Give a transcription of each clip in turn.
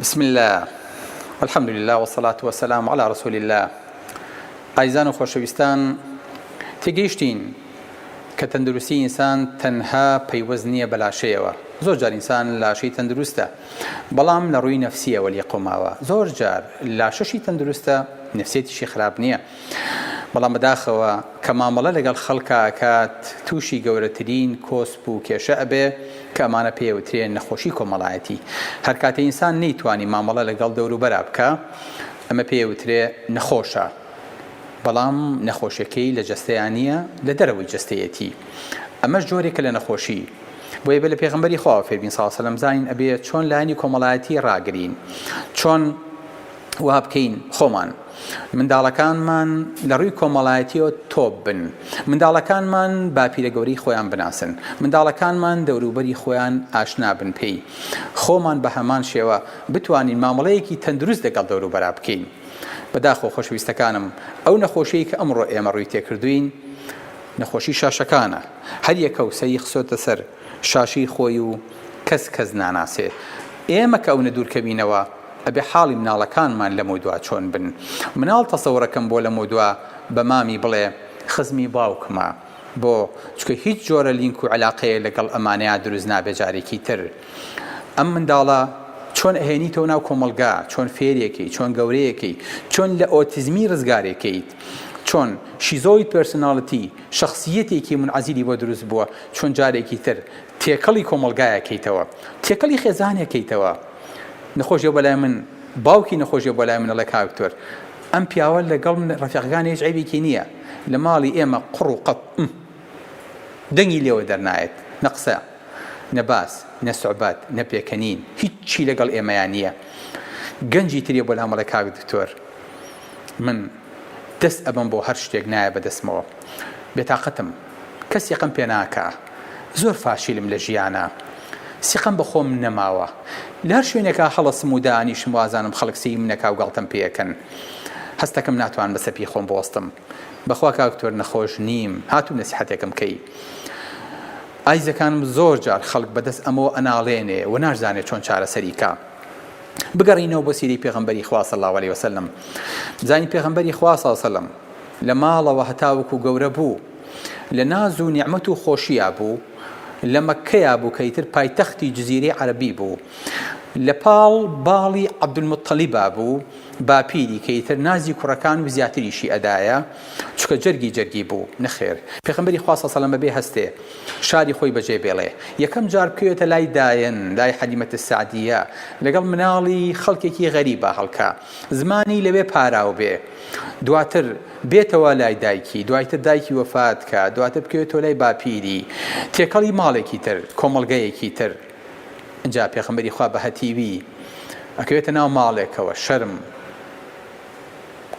بسم اللە والحمد للە والصلاة والسلام علی رسول اللە ئایزان و خۆشەویستان تێگەیشتین کە تەندروستی ئینسان تەنها پەیوەست نییە بە لاشەیەوە زۆر جار ئینسان لاشەی تەندروستە بەڵام لە ڕووی نەفسیەوە لێقەوماوە زۆر جار لاشەشی تەندروستە نەفسێتیشی خراپ نییە بەڵام بەداخەوە کە مامەڵە لەگەڵ خەڵکا ئەکات تووشی گەورەترین کۆسپ و کێشە ئەبێ کە ئەمانە پێی ئەوترێن نەخۆشی کۆمەڵایەتی هەرکاتێ ئینسان نەیتوانی مامەڵە لەگەڵ دەوروبەرا بکا ئەمە پێی ئەوترێ نەخۆشە بەڵام نەخۆشیەکەی لە جەستەیا نییە لە دەرەوەی جەستەیەتی ئەمەش جۆرێکە لە نەخۆشی بۆیە بە لە پێغمبەری خواوە فێربین ساسەلم زانین ئەبێ چۆن لایەنی کۆمەڵایەتی ڕاگرین چۆن وابکەین خۆمان منداڵەکانمان لە ڕووی کۆمەڵایەتیەوە تۆپ بن منداڵەکانمان باپیرە گەورەی خۆیان بناسن منداڵەکانمان دەوروبەری خۆیان ئاشنا بن پێی خۆمان بە هەمان شێوە بتوانین مامەڵەیەکی تەندروست دەگەڵ دەوروبەرا بکەین بەداخۆ خۆشویستەکانم ئەو نەخۆشیی کە ئەمڕۆ ئێمە ڕووی تێکردوین نەخۆشی شاشەکانە هەر یەکە و سەری خسۆتە سەر شاشەی خۆی و کەس کەس ناناسێ ئێمە کە ئەونە دوور کەوینەوە ئەبێ حاڵی مناڵەکانمان لەمەو دوا چۆن بن مناڵ تەسەورەکەم بۆ لەمەو دوا بە مامی بڵێ خزمی باوکمە بۆ چکە هیچ جۆرە لینک و عەلاقەیە لەگەڵ ئەمانەیا دروست نابێ جارێکی تر ئەم منداڵە چۆن ئەهێنیتەوە ناو کۆمەڵگا چۆن فێرێکەی چۆن گەورەیەکەی چۆن لە ئۆتیزمی ڕزگارێکەیت چۆن شیزۆی پێرسناڵتی شەخسیەتێکی منعەزیلی بۆ دروست بووە چۆن جارێکی تر تێکەڵی کۆمەڵگایە کەیتەوە تێکەڵی خێزانێ کەیتەوە نەخۆشیە بەلای من باوکی نەخۆشیە بەلای من ئەڵێ کاک دکتۆر ئەم پیاوە لەگەڵ من ڕەفیقەکانی هیچ عیبێکی نییە لە ماڵی ئێمە قڕ و قەپ دەنگی لێوە دەرنایەت نە قسە نە باس نە سوعبات نە پێکەنین هیچی لەگەڵ ئێمەیان نییە گەنجی ترێ بۆ لامەڵێ کاک دکتۆر من دەست ئەبم بۆ هەر شتێک نایە بەدەستمەوە بێتاقەتم کەس سیقەم پێ ناکا زۆر فاشیلم لە ژیانا سیقەم بە خۆم نەماوە لە هەر شوێنێکا هەڵەسم و دانیشم وازانم خەڵک سییم نەکا و گاڵتەم پێ کەن هەستەکەم ناتوانم بە سەپی خۆم بوەستم بەخوا کاک دکتۆر نەخۆش نیم هاتوم نەسیحەتێکم کەی ئایزەکانم زۆر جار خەڵک بە دەست ئەمەوە ئەناڵێنێ و ناشزانێ چۆن چارەسەری کا بگەڕینەوە بۆ سیرەی پێغەمبەری خوا صلی اللە علیە وسلم زانی پێغەمبەری خوا صلی اللە علیە وسلم لە ماڵەوە هەتاوەکو گەورە بوو لە ناز و نیعمەت و خۆشیا بوو لە مەککەیا بوو کە ئیتر پایتەختی جزیرەی عەرەبی بوو لە پاڵ باڵی عەبدولموتەلیبا بوو باپیری کە ئیتر نازی کوڕەکان و زیاتریشی ئەدایە چونکە جەرگی جەرگی بوو نەخێر پێخەمبەری خوا سەسەلەم بەبێ هەستێ شاری خۆی بەجێ بێڵێ یەکەم جار بکەوێتە لای دایەن لای حەلیمەت سەعدیە لەگەڵ مناڵی خەڵکێکی غەریبا هەڵکا زمانی لەوێ پاراو بێ دواتر بێتەوە لای دایکی دوایتر دایکی وەفات کا دواتر بکەوێتەوە لای باپیری تێکەڵی ماڵێکی تر کۆمەڵگەیەکی تر جا پێخەمبەری خوا بە هەتیوی ئەکەوێتە ناو ماڵێکەوە شەرم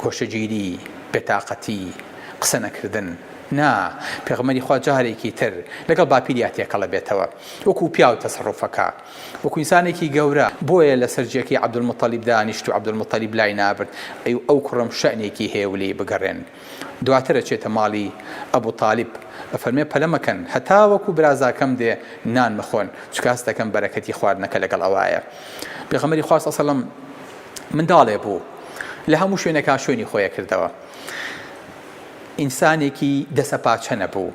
کۆشەگیری بێتاقەتی قسە نەکردن نا پێغمەری خوا جارێکی تر لەگەڵ باپیریا تێکەڵە بێتەوە وەکو پیاو تەسەڕفەکە وەکو ئینسانێکی گەورە بۆیە لەسەر جێکەی عبدالمطلب دانیشت و عبدالمطلب لای نابرد ئەی ئەو کوڕەم شەئنێکی هەیە و لێی بگەڕێن دواتر ئەچێتە ماڵی ئەبوتالب ئەفەرمێ پەلە مەکەن هەتاوەکو برازاکەم دێ نان مەخۆن چونکە هەست دەکەم بەرەکەتی خواردنەکە لەگەڵ ئەوایە پێغەمبەری خوا سەڵسەلەم منداڵێ بوو لە هەموو شوێنێکا شوێنی خۆیە کردەوە ئینسانێکی دەسەپاچە نەبوو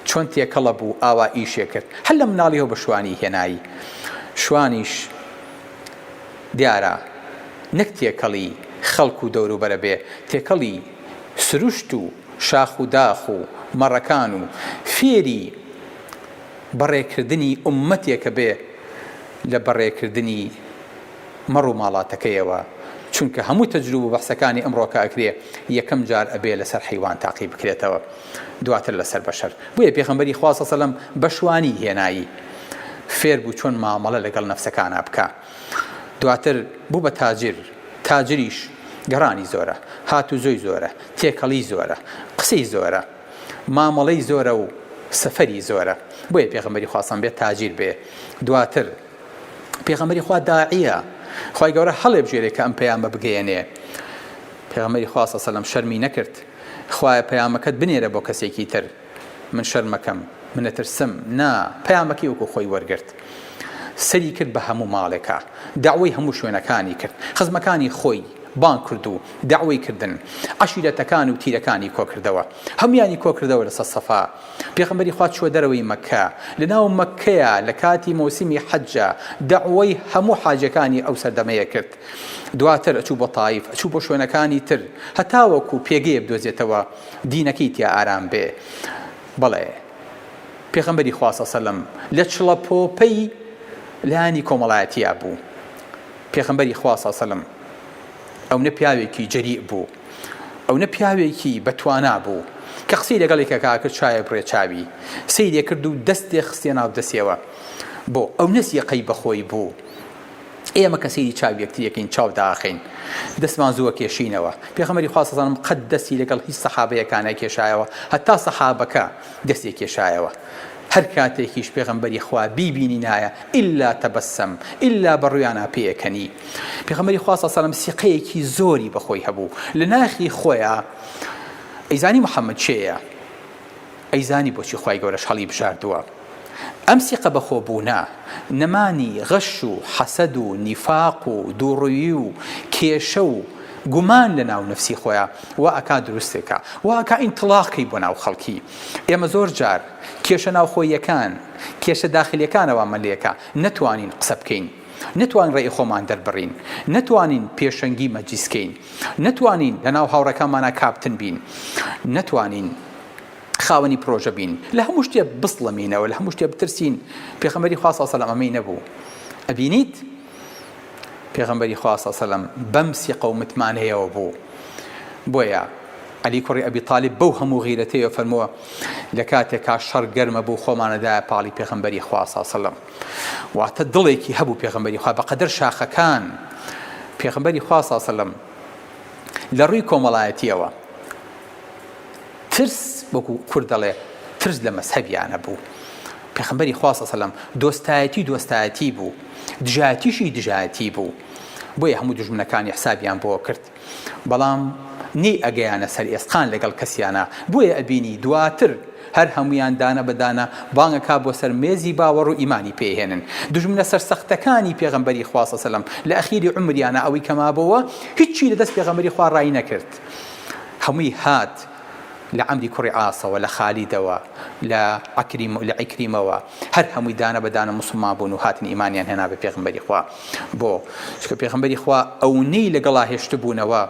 چۆن تێکەڵە بوو ئاوا ئیشێ کرد هەر لە مناڵیەوە بە شوانی هێنایی شوانیش دیارە نەک تێکەڵی خەڵک و دەوروبەرە بێ تێکەڵی سروشت و شاخ و داخ و مەڕەکان و فێری بەڕێکردنی ئوممەتێکە بێ لە بەڕێکردنی مەڕ و ماڵاتەکەیەوە چونکە هەموو تەجروب و بەحسەکانی ئەمڕۆکە ئەکرێ یەکەم جار ئەبێ لەسەر حەیوان تاقی بکرێتەوە. دواتر لەسەر بەشەر بۆیە پێخەمبەری خوا سە سەلەم بەشوانی هێنایی فێر بوو چۆن مامەڵە لەگەڵ نەفسەکانا بکا دواتر بوو بە تاجر تاجریش گەڕانی زۆرە هاتو زۆی زۆرە تێکەڵی زۆرە قسەی زۆرە مامەڵەی زۆرە و سەفەری زۆرە بۆیە پێخەمبەری خواستان بێت تاجیر بێ دواتر پێخەمبەری خوا داعیە خی گەورە هەڵێ بژێرێکە ئەم پەیامە بگەیەنێ پێغەمەری خواستە سەلم شەرمی نەکرد خوایە پەیامەکەت بنێرە بۆ کەسێکی تر من شەرمەکەم منەترسم نا پەیامەکەی وەکو خۆی وەرگرت سەری کرد بە هەموو ماڵێکا دەعوەی هەموو شوێنەکانی کرد خزمەکانی خۆی بانگ کرد و دەعوەی کردن عەشیرەتەکان و تیرەکانی کۆکردەوە هەمویانی کۆکردەوە لەسەر سەفا پێغەمبەری خوا چووە دەرەوەی مەککە لەناو مەککەیە لە کاتی مەوسیمی حەجە دەعوەی هەموو حاجەکانی ئەو سەردەمەیە کرد دواتر ئەچوو بۆ تایف، ئەچوو بۆ شوێنەکانی تر، هەتاوەکو پێگەیەک بدۆزێتەوە دینەکەی تیا ئارام بێ. بەڵێ، پێغەمبەری خوا صلی اللە علیه و سلم لە چڵەپۆپەی لایەنی کۆمەڵایەتیا بوو. پێغەمبەری خوا صلی اللە علیه و سلم ئەونە پیاوێکی جەریء بوو، ئەونە پیاوێکی بە توانا بوو، کە قسەی لەگەڵ یەکێکا کرد چاوێ بڕێ چاوی، سەیرێ کرد و دەستێ خستیە ناو دەستێوە. بۆ؟ ئەونە سیقەی بەخۆی بوو. ئێمە کە سەیری چاوی یەکتریەکەین چاو داخەین دەستمان زووە کێشینەوە پێخەمەری خواسەزانم قەت دەستی لەگەڵ هیچ سەحابەیەکانە کێشایەوە هەتا سەحابەکە دەستی کێشایەوە هەر کاتێکیش پێغمبەری خوا بیبینی نایە ئللا تەبەسەم ئللا بەڕویانە پێەکەنی پێغمەری خواسە سەلم سیقەیەکی زۆری بەخۆی هەبوو لە ناخی خۆیان ئەیزانی محەممەد چێە ئەیزانی بۆچی خی گەورەش هەڵی بژاردووە ئەم سیقە بەخۆبوونە، نەمانی غەش و حەسەد و نیفاق و دووڕوویی و کێشە و گومان لە ناو نەفسی خۆیا وا ئەکا دروستی کا، وا ئەکا ئینتڵاقی بۆ ناو خەڵکی. ئێمە زۆر جار کێشە ناوخۆییەکان، کێشە داخلیەکانەوامان لێکا، نەتوانین قسە بکەین، نەتوانین ڕێی خۆمان دەربڕین، نەتوانین پێشەنگی مەجلیس کەین، نەتوانین لە ناو هاوڕێکانمانا کاپتن بین، نەتوانین. خاوەنی پرۆژە بین لەهەموو شتێ بسڵەمینەوە لەهەموو شتێ بترسین پێخەمەری خوا ساسەلام ئەمەی نەبوو ئەبینیت پێغەمبەری خوا ساسەلم بەم سیقە و متمانەیەوە بوو بۆیە علی کوڕی ئەبی تاالب بەو هەموو غیرەتەیە فەرمووە لە کاتێکا شەڕ گەرمە بوو خۆمانەدایە پاڵی پێغمبەری خواساسەلم واتە دڵێکی هەبوو پێغمبەری خوا بەقەدەر شاخەکان پێغمبەری خواساسەلم لە ڕووی کۆمەڵایەتیەوە ترس وەکو کورد دەڵێ ترس لە مەزهەبیانە بوو پێخمبەری خوا سەسەلم دۆستایەتی دۆستایەتی بوو دژاتیشی دژاتی بوو بۆیە هەموو دژمنەکانی حسابیان بۆ کرد بەڵام نی ئەگەیانە سەر ئێسقان لەگەڵ کەسیانە بۆیە ئەبینی دواتر هەر هەمویان دانە بەدانە بانگەکە بۆ سەر مێزی باوەڕ و ئیمانی پێهێنن دژمنە سەرسەختەکانی پێغمبەری خواسەسەلم لە ئەخیری عمریانە ئەوەی کەمابەوە هیچی لە دەست پێغمبەری خوا ڕای نەکرد هەمووی هات لە عەمری کوڕی عاسەوە، لە خالیدەوە، لە عەکریم، لە عیکریمەوە، هەر هەمووی دانە بە دانە موسڵمان بوون و هاتن ئیمانیان هێنا بە پێغەمبەری خوا، بۆ؟ چونکە پێغەمبەری خوا ئەونەی لەگەڵا هێشتبوونەوە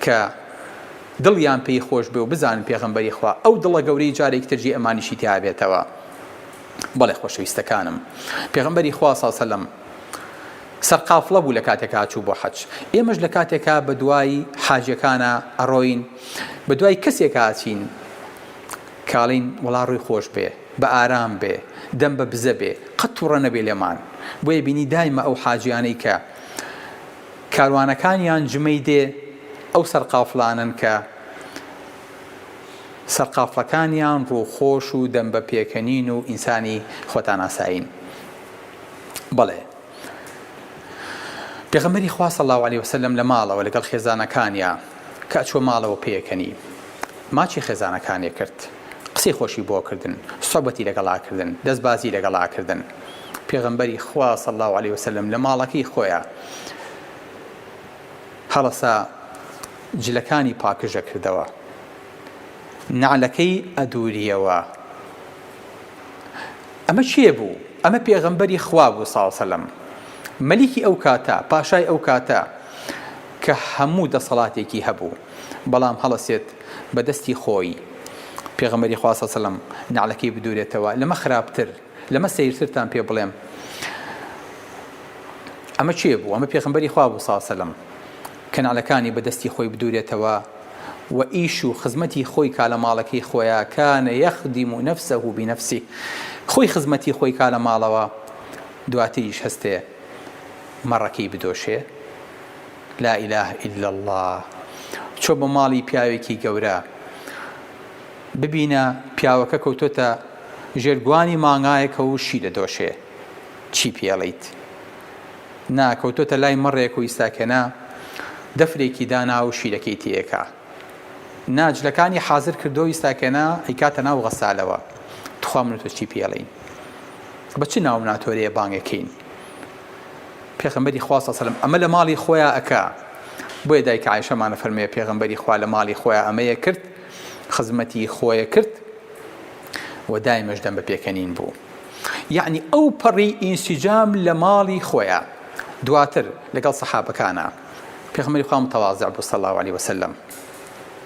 کە دڵیان پێی خۆش بێ و بزانن پێغەمبەری خوا ئەو دڵە گەورەی جارێکی تر جێی ئەمانیشی تیابێتەوە. بەڵێ خۆشەویستەکانم، پێغەمبەری خوا، صلی اللە علیە وسلم، سەرقافڵە بوو لەکاتێکا ئەچوو بۆ حەج ئێمەش لەکاتێکا بەدوای حاجەکانە ئەڕۆین بەدوای کەسێکا ئەچین کاڵین وڵا ڕووی خۆش بێ بە ئارام بێ دەم بە بزە بێ قەت توڕە نەبێ لێمان بۆیە بینی دایمە ئەو حاجیانەی کە کاروانەکانیان جمەی دێ ئەو سەرقافلانن کە سەرقافلەکانیان ڕووخۆش و دەم بە پێکەنین و ئینسانی خۆتاناسایین. بەڵێ پێغەمبەری خوا صلی الله علیه وسلم لە ماڵەوە لەگەڵ خێزانەکانیا کە ئەچوە ماڵەوە پێکەنی ماچی خێزانەکانێ کرد قسەی خۆشی بۆ کردن سوبەتی لەگەڵا کردن دەستبازی لەگەڵا کردن پێغەمبەری خوا صلی الله علیه وسلم لە ماڵەکەی خۆیە هەڵەسا جلەکانی پاکژە کردەوە نعلەکەی ئەدوریەوە ئەمە کێ بوو؟ ئەمە پێغەمبەری خوا بوو ساڵ سەلەم مەلیکی ئەو کاتە پاشای ئەو کاتە کە هەموو دەسەڵاتێکی هەبوو بەڵام هەڵەسێت بە دەستی خۆی پێغەمبەری خوا ساڵ سەلەم نەعلەکەی بدورێتەوە لەمە خراپتر لەمە سەیرترتان پێ بڵێم ئەمە کێ بوو؟ ئەمە پێغەمبەری خوا بوو ساڵ سەلەم کەنالەکانی بە دەستی خۆی بدورێتەوە و ئیش و خزمەتی خۆی کا لە ماڵەکەی خۆیا کان یخدم نفسه بنفسه خۆی خزمەتی خۆی کا لە ماڵەوە دواتریش هەستێ مەڕەکەی بدۆشێ لا اله الا اللە چۆ بۆ ماڵی پیاوێکی گەورە ببینە پیاوەکە کەوتۆتە ژێر گوانی مانگایەکە و شی دەدۆشێ چی پێڵێیت؟ نا کەوتۆتە لای مەڕێک و ئیستاکێنە دەفرێکی دانا و شیرەکەی تێکا نا جلەکانی حازر کردۆ ئیستاکێنە ئەیکاتە ناو غەسالەوە تخوا من و تۆ چی پێڵێین بە چ ناو ناتۆرێ بانگەکەین پێغەمبەری خوا سەسەلم ئەمە لە ماڵی خۆیان ئەکا بۆیە دایک عیشەمانە فەرمێ پێغەمبەری خوا لە ماڵی خۆیان ئەمەیە کرد خزمەتی خۆیە کرد و دایمەش دەم بە پێکەنین بوو یەعنی ئەو پەڕی ئینسیجام لە ماڵی خۆیا دواتر لەگەڵ سەحابەکانا پێغەمبەری خوا متواضع بوو صلی اللە علیە وسلم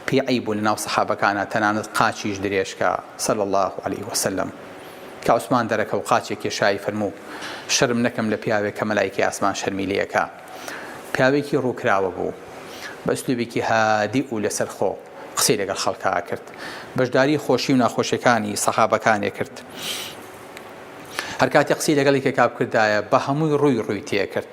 پێی عەیب بوو لەناو سەحابەکانا تەنانەت قاچیش درێژکا صلی اللە علیە وسلم کە عوسمان دەرەکەو قاچێک کێشایی فەرموو شەرم نەکەم لە پیاوێک کە مەلایکی ئاسمان شەرمی لەکە پیاوێکی ڕووکراوە بوو بە ئسلوبێکی هادی و لەسەر خۆ قسەی لەگەڵ خەڵکا کرد بەشداری خۆشی و ناخۆشیەکانی سەحابەکانێ کرد هەر کاتێ قسەی لەگەڵ یەکێکا بکردایە بە هەمووی ڕووی ڕووی تێکرد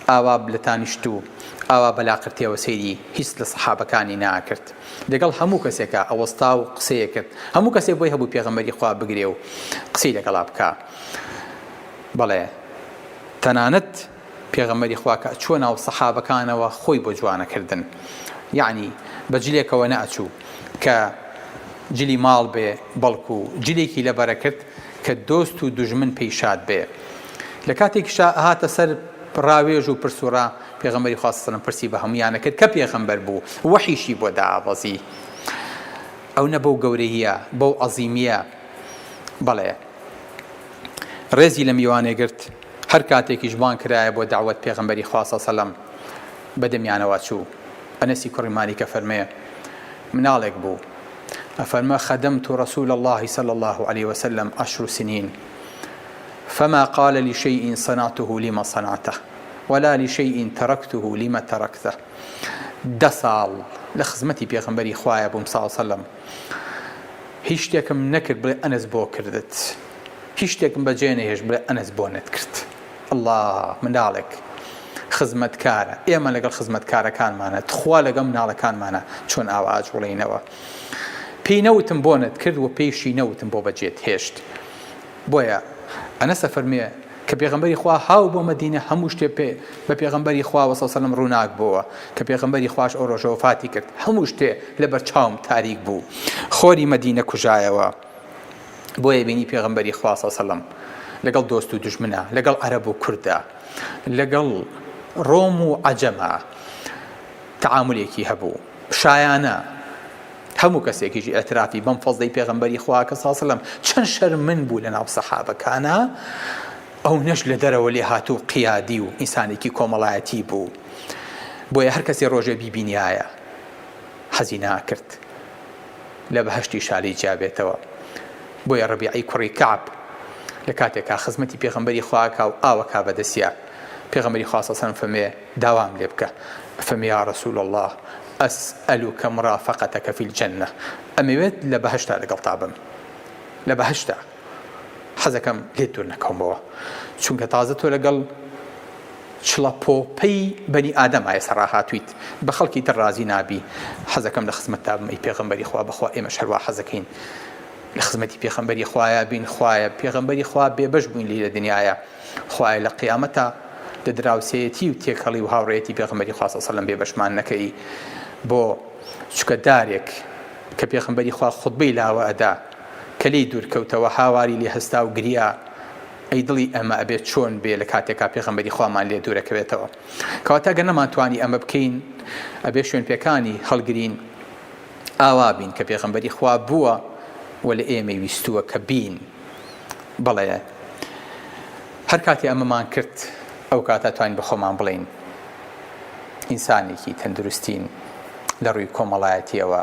ئاوا لە تانیشت و ئاوا بەلاقرتێوە سەیری هیچ لە سەحابەکانی ناکرد لەگەڵ هەموو کەسێکا ئەوەستا و قسەیە کرد هەموو کەسێ بۆی هەبوو پێغەمەری خوا بگرێ و قسەی لەگەڵا بکە بەڵێ تەنانەت پێغەمبەری خوا کە ئەچووە ناو سەحابەکانەوە خۆی بۆ جوانە کردن یەعنی بە جلێکەوە نەئەچوو کە جلی ماڵ بێ بەڵکو جلێکی لە بەرەکرد کە دۆست و دوژمن پێی شاد بێ لە کاتێکیشا هاتە سەر ڕاوێژ و پرسوڕا پێغەمبەری خوا سەلم پرسی بە هەمویانە کرد کە پێغەمبەر بوو وەحیشی بۆ دابەزی ئەو نە بەو گەورەییە بەو عەزیمیە بەڵێ ڕێزی لە میوانێ گرت هەر کاتێکیش بانگ کرایە بۆ دەعوەت پێغەمبەری خوا صلی سەلەم بە دەمیانەوە چوو. ئەنەسی کوڕی مالیک ئەفەرمێ، مناڵێک بوو ئەفەرمە خدمت رسول اللە صلی اللە علیە وسلم عشر سنین فما قال لشیء صنعته لم صنعته ولا لشیء ترکته لم ترکته دە ساڵ لە خزمەتی پێغەمبەری خوایە بووم صلی اللە علیە وسلم هیچ شتێکم نەکرد بڵێ ئەنەس بۆ کردت؟ هیچ شتێکم بە جێ نەهێشت بڵێ ئەنەس بۆنت کرد اللە منداڵێک خزمەتکارە ئێمە لەگەڵ خزمەتکارەکانمانە تخوا لەگەڵ مناڵەکانمانە چۆن ئاوا ئاجوڵێینەوە پێی نەوتم بۆنت کرد و پێیشی نەوتم بۆ بەجێت هێشت بۆیە ئەنە سەفەرمێ کە پێغمبەری خوا هاو بۆ مەدینە هەموو شتێ پێ بە پێغمبەری خوا وەسەسەلم ڕووناک بووە کە پێغمبەری خوش ئەو ڕۆژەوە فاتی کرد هەموو شتێ لە بەرچاوم تاریک بوو خۆری مەدینە کوژایەوە بۆیە بینی پێغەمبەری خوا صلی اللە علیه و سلم لەگەڵ دۆست و دوژمنا لەگەڵ عەرەب و کوردە لەگەڵ ڕۆم و عەجەمە تعاملێکی هەبوو شایانە هەموو کەسێکیش ئەترافی بەم فەزدەی پێغمبەری خواکە ساسلم چەند شەرمن بوو لە ناو سەحابەکانە ئەو نەش لە دەرەوە لێ هاتوو قیادی و ئینسانێکی کۆمەڵایەتی بوو بۆیە هەر کەسی ڕۆژێ بیبینایە حەزی ناکرد لە بەهەشتی شالی جیابێتەوە بۆیە ڕەبیعی کوڕی کەعب لە کاتێکا خزمەتی پێغەمبەری خوا ئەکا و ئاوەکا بەدەسیا پێغەمبەری خوا سەسەلەم فەمێ داوام لێ بکە فەمێ یا رسول اللە ئەس ئەلوکە مرافەقەتەکە فی الجنە ئەمەوێت لە بەهەشتا لەگەڵتا بم لە بەهەشتا حەزەکەم لێت دوور نەکەومەوە چونکە تازە تۆ لەگەڵ چڵە پۆپەی بەنی ئادەم ئایە سەڕاهاتویت بە خەڵکی تر ڕازی نابی حەزەکەم لە خزمەت تابم ئەی پێغەمبەری خوا بەخوا ئێمە شەروا حەزەکەین لە خزمەتی پێخەمبەری خوایە بین خوایە پێغەمبەری خوا بێبەش بووین لی لە دنیاە خوایە لە قیامەتە لە دراوسەتی و تێکەڵی و هاوڕێتی پێغەمبەری خواستە سەلم بێبەشمان نەکەی بۆ چکە دارێک کە پێخمبەری خوا خودبەی لاوە ئەدا کە لێی دوور کەوتەوە هاواری لێ هەستا و گریا، ئەی دڵی ئێمە ئەبێ چۆن بێ لە کاتێکا پێغەمبەری خوامان لێ دوور ئەکەوێتەوە؟ کەواتە گەر نەمانتوانی ئەمە بکەین ئەبێ شوێنپێکانی هەڵگرین ئاوا بین کە پێغەمبەری خوا بووە و لە ئێمەی ویستووە کە بین بەڵێ هەر کاتێ ئەمەمان کرد ئەو کاتە توانین بە خۆمان بڵێین ئینسانێکی تەندروستین لە ڕووی کۆمەڵایەتیەوە